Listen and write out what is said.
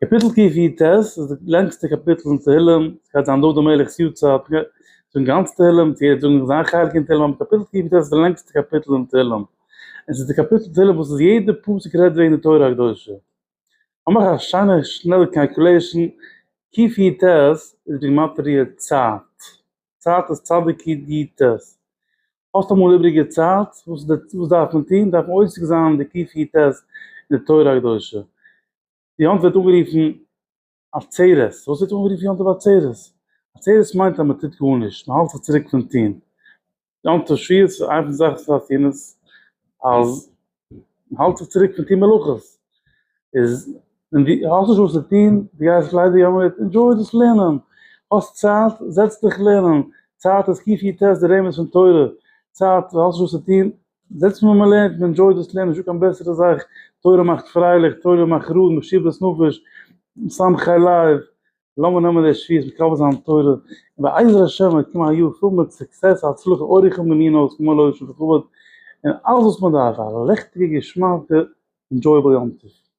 קאפיטל ק י ט איז די לענגסטע קאפיטל אין תהילים, ס'גייט זיין דוד המלך'ס יארצייט, מען גייט זאגן גאנץ תהילים, צו גייט זאגן זיין חלק אין תהילים, אבער קאפיטל ק י ט איז די לענגסטע קאפיטל אין תהילים, און ס'איז די קאפיטל אין תהילים וואס איז יעדע פסוק רעדט וועגן די תורה הקדושה. איך מאך א שיינע שנעלע קאלקולעישן, ק י ט איז בגימטריא צייט, צייט איז צדק י ט, האסט אמאל איבריגע צייט, וואס דארף מען טון? דארף מען עוסק זיין די ק פ ת אין די תורה הקדושה. די יום טוב ווערט אנגערופן עצרת. פארוואס ווערט אנגערופן יום טוב עצרת? עצרת מיינט אז מען טוט גארנישט, מען האלט זיך צוריק פון טון. יום טוב שביעית איינס פון די זאכן וואס דארף טון איז אז מען האלט זיך צוריק פון טון מלאכות, איז און די האסט נישט וואס צו טון, די גייסט ליידער יא מיט, ענדזשוי דאס לערנען, האסט צייט, זעץ דיך לערנען, צייט איז קי פי טעסט די רמז פון תורה, צייט וואס האסט נישט וואס צו טון, זעץ מען מען לערנט, מען ענדזשויט דאס לערנען, נישטא קיין בעסערע זאך, תורה מאכט פרייליך, תורה מאכט רואיג, משיב לסנפש, מסמכי לב, לאמיר נעמען די שפיעס מיט קאווע זיין תורה, און בעזר השם וועט קומען א יאר פול מיט סוקסעס הצלחה אורח ומנינא ושמאל אויש וכבוד, און אלעס וואס מען דארף פאר א לעכטיגע געשמאקע ענדזשויעבל יום טוב.